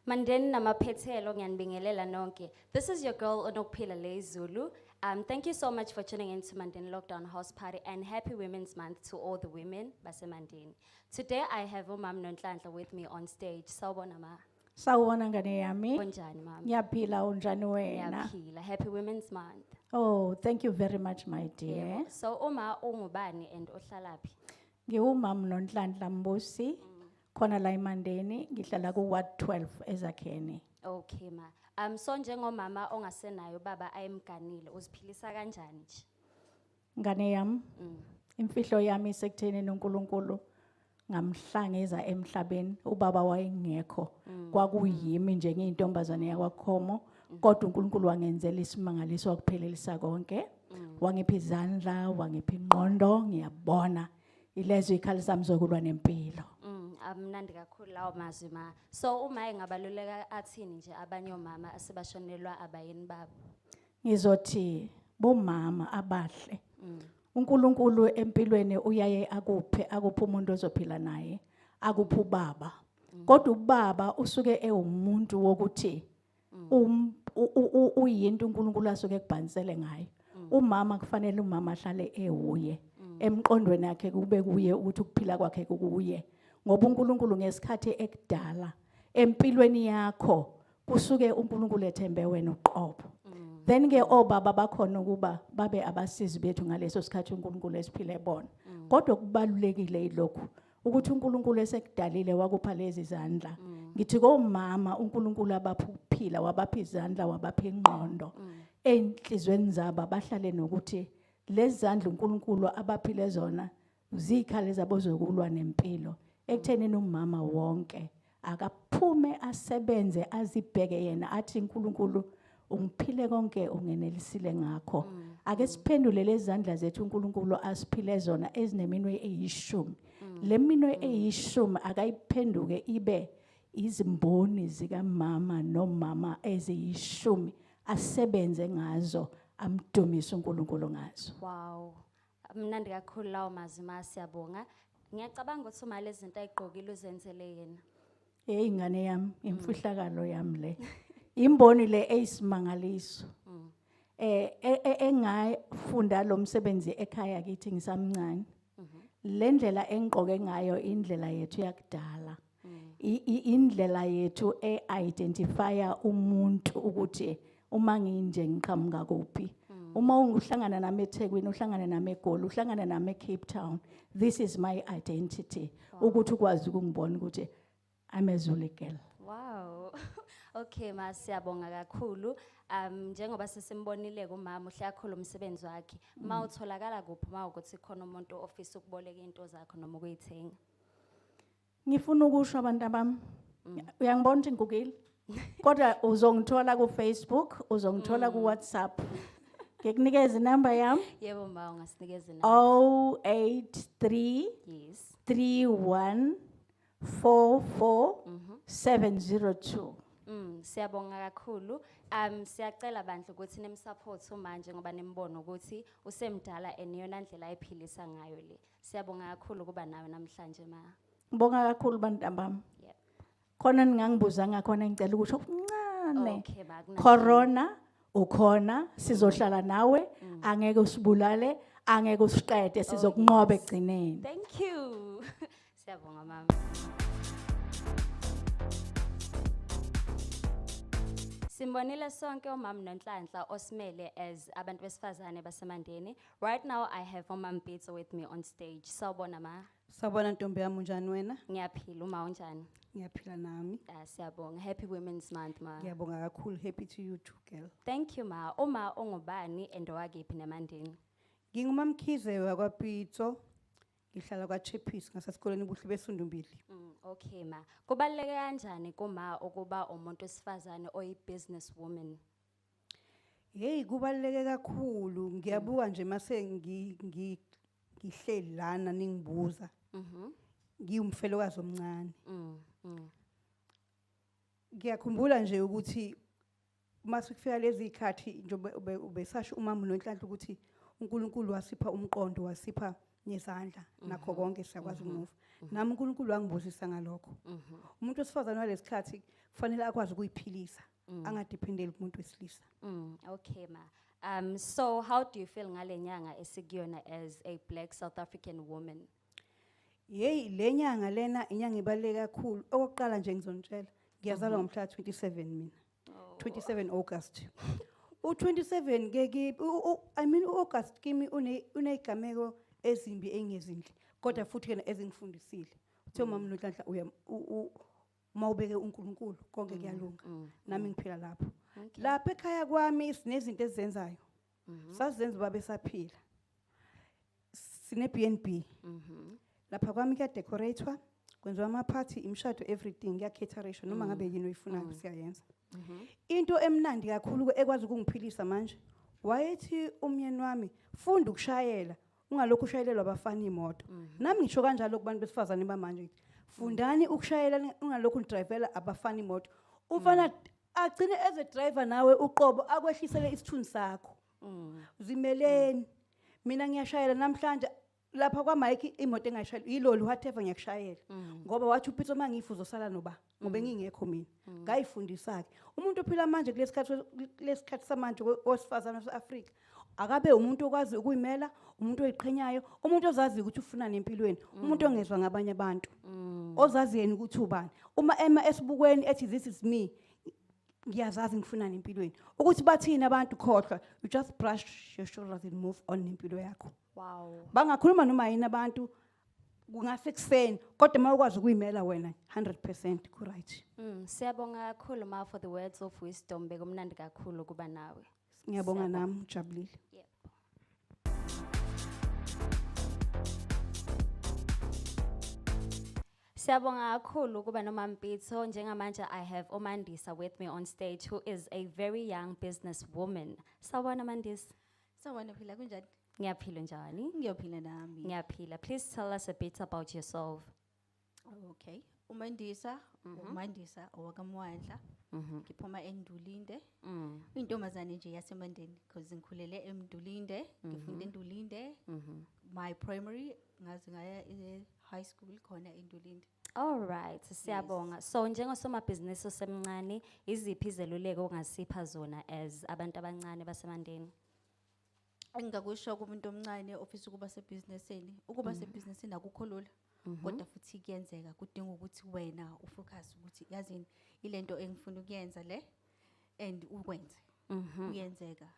Mandeni namaphethelo ngiyanibingelela nonke. This is your girl Onokuphila Lay Zulu. Um, thank you so much for tuning in to Mandeni Lockdown House Party and happy Women's Month to all the women baseMandeni. Today I have uMam Nonhlanhla with me on stage. Sawubona ma. Sawubona ngane yami. Unjani mama? Ngiyaphila unjani wena? Ngiyaphila. Happy Women's Month. Oh, thank you very much my dear. Yeah. So uma ungubani and ohlalaphi? Ngiwumam Nonhlanhla Mbusi. Mm. Khona la eMandeni ngihlala ku ward 12 ezakheni. Okay ma. Um so njengomama ongasenayo baba ayemganile uziphilisa kanjani nje? Ngane yami Mm. imfihlo yami isekutheni noNkulunkulu ngamhlangeza emhlabeni ubaba wayengekho kwakuyimi nje ngiyintombazane yakwakhomo kodwa uNkulunkulu wangenzela isimangaliso wakuphelelisa konke wangipha izandla wangipha ingqondo ngiyabona Ilezwe ikhali sami zokulwa nempilo. Mm, amnandi kakhulu lawo mazwi ma. So uma engabaluleka athini nje abanye omama asebashonelwa abayeni babo. Ngizothi bomama abahle. Mm. uNkulunkulu empilweni uyaye akuphe akuphe umuntu ozophila naye akuphe ubaba kodwa ubaba usuke ewumuntu wokuthi mm. um uyinto uNkulunkulu asuke ekubhanisele ngayo mm. umama kufanele umama ahlale ewuye mm. emqondweni yakhe kube kuye ukuthi ukuphila kwakhe kukuye ngoba uNkulunkulu ngesikhathi ekudala empilweni yakho kusuke uNkulunkulu ethembe wena uqobo then ke obaba oh, bakhona ukuba babe abasizi bethu ngaleso sikhathi uNkulunkulu esiphile bona kodwa kubalulekile ilokhu ukuthi uNkulunkulu esekudalile wakupha lezi zandla mm. ngithi komama uNkulunkulu abapha ukuphila wabapha izandla wabapha ingqondo mm. enhlizweni zabo abahlale nokuthi lezi zandla uNkulunkulu abaphile zona zikhale zabozokulwa nempilo ekutheni nomama wonke Akaphume asebenze azibheke yena athi uNkulunkulu ungiphile konke ungenelisile ngakho. Mm. Ake siphendule lezandla zethu uNkulunkulu asiphile zona ezineminwe eyishumi. Mm. Leminwe mm. eyishumi akayiphenduke ibe izimboni zikamama nomama eziyishumi asebenze ngazo amdumise uNkulunkulu ngazo. Wow. Amnandi kakhulu lawo mazwi ma siyabonga. Ngiyacabanga ukuthi uma lezi zinto ayigqokile uzenzele yena. Hey ngane yami imfihlakalo yami le. Imboni le eyisimangaliso. Mm. Eh e- e- engafunda lo msebenzi ekhaya kithi ngisamncane. Mhm. Le ndlela engigqoke ngayo indlela yethu yakudala. indlela yethu e-identifya umuntu ukuthi uma nginje ngiqhamuka kuphi mm. uma uhlangana nami ethekwini uhlangane nami egoli uhlangane nami ecape town this is my identity ukuthi ukwazi ukungibona ukuthi i'm a zulu girl wow okay ma siyabonga kakhulu um njengoba sesimbonile kumama uhle akhulu umsebenzi wakhe mm. ma utholakala kuphi ma ukuthi khona umuntu ofisa ukuboleka into zakho noma ukuyithenga Ngifuna ukusho abantu abami. Mm. Uyangibona ukuthi ngigugile. Kodwa uzongithola ku Facebook, uzongithola ku mm. WhatsApp. Ngikunikeza inamba yami? Yebo ma ungasinikeza inamba. 083 Yes. 31 44 702. Mm, siyabonga kakhulu. Um siyacela bandla ukuthi nimsupport manje ngoba nimbono ukuthi usemdala and yona ndlela ayiphilisa ngayo le. Siyabonga kakhulu kuba nawe namhlanje ma. Ngibonga kakhulu bantambami. Yep. Khona ningangibuza ngakhona ngicela ukusho okuncane. Okay ba kunankinga. Corona ukhona sizohlala nawe Mm. angeke usibulale angeke usiqede Oh, sizokunqoba yes. ekugcineni. Thank you. Siyabonga mama. Simbonile sonke umama noNhlanhla osimele as abantu besifazane basemandeni Right now I have Mama Mpitso with me on stage. Sawubona ma. Sawubona ntombi yami unjani wena? Ngiyaphila uma unjani? Ngiyaphila nami. Ah siyabonga. Happy Women's Month ma. Ngiyabonga kakhulu. Happy to you too girl. Thank you ma. Uma ongubani and owakephi nemandini? Ngingumamkhize wakwaPitso. Ngihlala kwaChipis ngasesikoleni ubuhle besundumbili. Mm, okay ma. Kubaluleke kanjani kuma ukuba umuntu wesifazane oyi business woman? Hey kubaluleke kakhulu ngiyabuka nje mase ngihleli lana ningibuza. Mhm. Ngiwumfelokazi omncane. Mhm. Mm. Ngiyakhumbula nje ukuthi uma sikufika lezi khathi njengoba ubesasho umama nonhlanhla ukuthi uNkulunkulu wasipha umqondo wasipha ngezandla mhm. nakho konke siyakwazi mhm. ukumuva mhm. nami uNkulunkulu wangibusisa ngalokho umuntu wesifazane walesikhathi kufanele akwazi ukuyiphilisa mm. angadependeli kumuntu wesilisa mm, okay ma um so how do you feel ngalenyanga esikuyona as a black south african woman yeyi lenyanga lena inyanga ibaluleke kakhulu okokuqala nje ngizonitshela ngiyazalwa ngomhla 27 mina 27 August. U27 ke ki u- u- I mean uAugust kimi une unezigameko ezimbi engezinhle kodwa futhi yena ezingifundisile. Uthe umama Nonhlanhla uya u- u- uma ubeke uNkulunkulu konke kuyalunga. Nami ngiphila lapho. Lapha ekhaya kwami sinezinto ezenzayo. Mhm. Sazenza ubaba esaphila. Sine BNB. Mhm. Lapha kwami kuya decoratwa, kwenziwa ama party, imshado everything, kuya cateration noma ngabe yini oyifunayo siyayenza. Into emnandi kakhulu ekwazi ukungiphilisa manje wayethi umyeni wami funda ukushayela ungalokhu ushayelelwa abafana imoto nami ngisho kanjalo kubantu besifazane bamanje ngithi fundani ukushayela ni- ungalokhu nidrivela abafana imoto umfana agcine as a driver nawe uqobo akwehlisele isithunzi sakho zimeleni mina ngiyashayela namhlanje lapha kwamike imoto engayishayela yiloli whatever ngiyakushayela ngoba wathi upitso uma ngifa uzosala noba ngoba mm. engingekho mina mm. ngayifundisa-ke umuntu ophila manje kulesikhathi samanje owesifazane wase-afrika akabe umuntu okwazi ukuyimela umuntu oyiqhenyayo umuntu ozazi ukuthi ufuna nempilweni mm. umuntu ongezwa ngabanye abantu mm. ozazi yena ukuthi ubani uma ema esibukweni ethi this is me ngiyazazi ngifuna nempilweni ukuthi bathini abantu khohlwa you just brush your shoulders and move on nempilo yakho wow bangakhuluma noma yini abantu kungase kuseni kodwa uma ukwazi ukuyimela wena 100% ku-right Mm, siyabonga kakhulu ma for the words of wisdom bekumnandi kakhulu ukuba nawe. ngiyabonga Siyabonga. nami ujabulile Yep. Siyabonga kakhulu ukuba noMampitso njengamanje I have uMandisa with me on stage who is a very young businesswoman. Sawubona Mandisa. Sawubona phila kunjani? Ngiyaphila njani? Ngiyophila nami. Ngiyaphila. Please tell us a bit about yourself. Okay. UMandisa, Mhm. uMandisa owakamwandla. Mhm. Ngiphuma eNdulinde. Mm. Uyintombazane nje yaseMandeni because ngikhulele eMdulinde, ngifunda eNdulinde. Mhm. My primary ngaze ngaya e-high school khona eNdulinde. All right, siyabonga. So njengosomabhizinisi osemncane, iziphi izeluleko ongasipha zona as abantu abancane baseMandeni? engingakusho kumuntu omncane ofisa ukuba sebhizinisini ukuba sebhizinisini akukho lula kodwa futhi kuyenzeka kudinga ukuthi wena ufocus ukuthi yazini ilento engifuna ukuyenza le and ukwenze kuyenzeka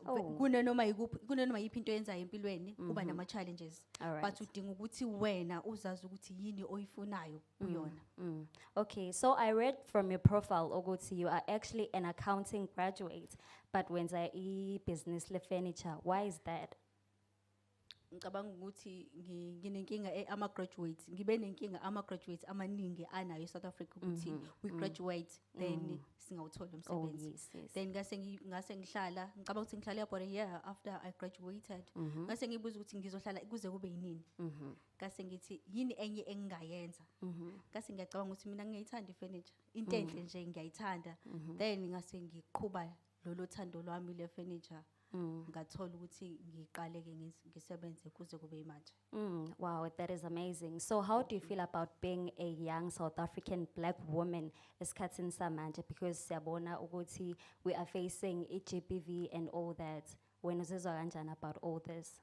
Oh. kunanoma yikuphi kunanoma yiphi into oyenzayo empilweni uba mm-hmm. nama challenges Alright. but udinga ukuthi wena uzazi ukuthi yini oyifunayo mm, kuyona mm. okay so i read from your profile ukuthi you are actually an accounting graduate but wenza i-business le-furniture why is that ngicabanga ukuthi nginenkinga eh, ama-graduates ngibe nenkinga ama-graduates amaningi anayo e-south africa ukuthi mm-hmm. we mm-hmm. graduate then mm-hmm. singawutholi umsebenzi oh, then ngase ngase ngihlala ngicabanga ukuthi ngihlale for a year after i graduated ngase ngibuza ukuthi ngizohlala kuze kube yinini ngase ngithi yini enye engingayenza ngase ngiyacabanga ukuthi mina ngiyayithanda ifurniture into enhle nje ngiyayithanda then ngase ngiqhuba lolo thando lwami le furniture mm. ngathola ukuthi ngiqale ke ngisebenze kuze kube imanje mm. wow that is amazing so how do you feel about being a young south african black woman esikhathini samanje because siyabona ukuthi we are facing i-gbv and all that wena uzizwa kanjani about all this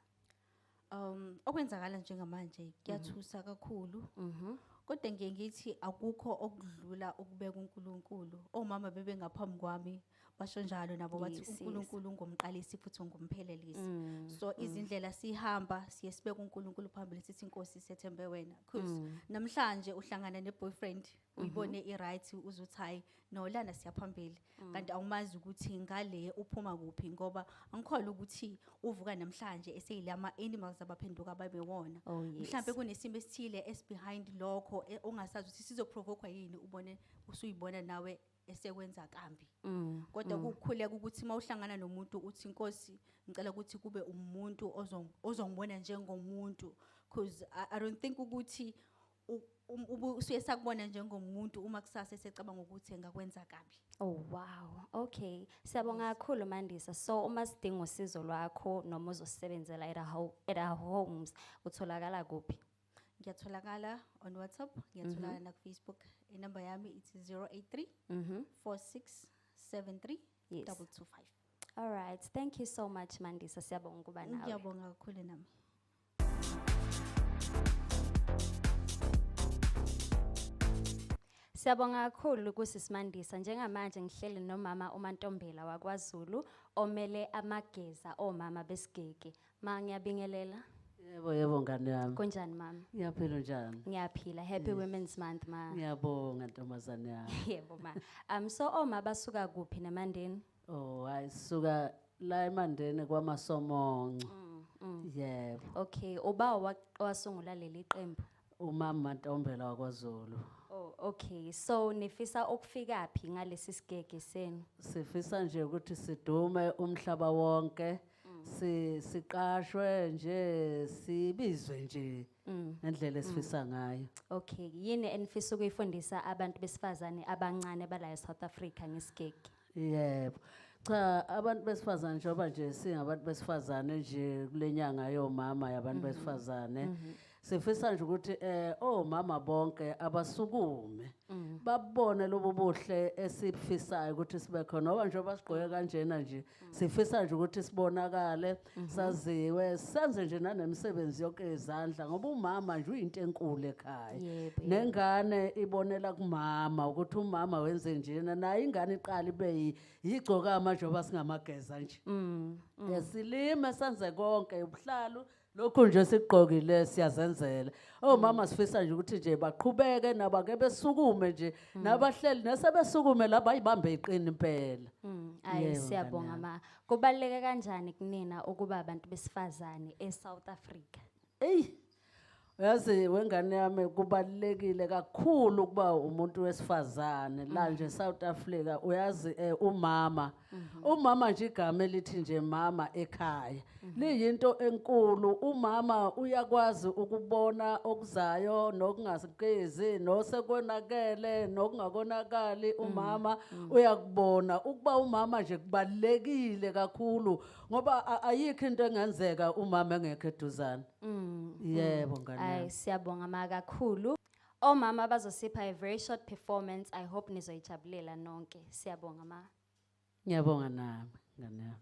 Um okwenzakala njengamanje kuyathusa kakhulu. Mhm. Kodwa ngiye ngithi akukho okudlula ukubeka uNkulunkulu. Omama bebe ngaphambi kwami basho njalo nabo bathi Yes, yes. uNkulunkulu ungumqalisi futhi ungumphelelisi. Mm, So izindlela sihamba siye sibeka uNkulunkulu phambili sithi inkosi sethembe wena. Cause Mm. namhlanje uhlangana ne boyfriend uyibone mhm. i-right uze uthi hhayi no lana siyaphambili mm. kanti awumazi ukuthi ngale uphuma kuphi ngoba angikholwa ukuthi uvuka namhlanje eseyile ama-animals abaphenduka babewona oh, mhlawumbe kunesimo esithile esibehind lokho e, ongasazi ukuthi sizoprovokwa yini ubone usuyibona nawe esekwenza kambi mm, kodwa mm. kukhuleka ukuthi uma uhlangana nomuntu uthi inkosi ngicela ukuthi kube umuntu ozongibona njengomuntu because I, i don't think ukuthi usuye sakubona njengomuntu uma kusasa esecabanga ukuthi engakwenza kabi oh wow okay siyabonga kakhulu mandisa so uma sidinga usizo lwakho noma uzosebenzela at our, at our homes utholakala kuphi ngiyatholakala on whatsapp ngiyatholakala mm -hmm. nakufacebook inumber yami ithi 083 mm -hmm. 4673 yes. 225 all right thank you so much mandisa siyabonga ukuba nawe ngiyabonga kakhulu nami Siyabonga kakhulu kusisimandisa njengamanje ngihleli nomama uMantombela wakwaZulu omele amageza omama besigeke. Ma ngiyabingelela. Yebo yebo ngane yami. Kunjani mama? Ngiyaphila njani? Ngiyaphila. Happy Women's Month ma. Ngiyabonga ntombazane yami. Yebo ma. Um so oma basuka kuphi nemandeni? Oh hayi suka la eMandeni kwaMasomonco. Mm, mm. Yebo. Okay, uba wa- wasungula leli qembu. Umama Mantombela wakwaZulu. Oh, okay. So nifisa ukufika phi ngalesi sigege senu? Sifisa nje ukuthi sidume umhlaba wonke. Si siqashwe nje sibizwe nje Mm. ngendlela esifisa ngayo. Okay, yini enifisa ukuyifundisa abantu besifazane abancane bala eSouth Africa ngesigege? Yebo. Cha abantu besifazane njengoba nje singabantu besifazane nje kule nyanga yomama yabantu mhm. besifazane. Mm -hmm. sifisa nje ukuthi eh omama bonke abasukume mm. babone lobo buhle esifisayo ukuthi sibe khona ngoba njengoba sigqoke kanjena nje mm. sifisa nje ukuthi sibonakale Mhm. saziwe senze nje nanemisebenzi yonke yezandla ngoba umama nje uyinto enkulu ekhaya Yebo, yebo. nengane ibonela kumama ukuthi umama wenze njena naye ingane iqala ibe yi- yigcokama njengoba singamageza nje Mm. Eh, silime senze konke ubuhlalu lokhu nje sikugqokile siyazenzela omama sifisa nje ukuthi nje baqhubeke nabo ake besukume nje nabahleli nesebesukume laba ayibambe iqini impela Mm, ayi Yebo, siyabonga mnganami. ma Kubaluleke kanjani kunina ukuba abantu besifazane eSouth Africa? Eyi yazi wengane yami kubalulekile kakhulu ukuba umuntu wesifazane la nje South Africa uyazi eh, umama umama nje igama elithi nje mama ekhaya liyinto enkulu umama uyakwazi ukubona okuzayo nokungazikezi nosekonakele nokungakonakali umama Mm. uyakubona ukuba umama nje kubalekile kakhulu ngoba a- ayikho into engenzeka umama engekho eduzane Mm. yebo ngane Ay yami. siyabonga ma kakhulu. Omama bazosipha a very short performance. I hope nizoyijabulela nonke. Siyabonga ma. ngiyabonga nami ngane yami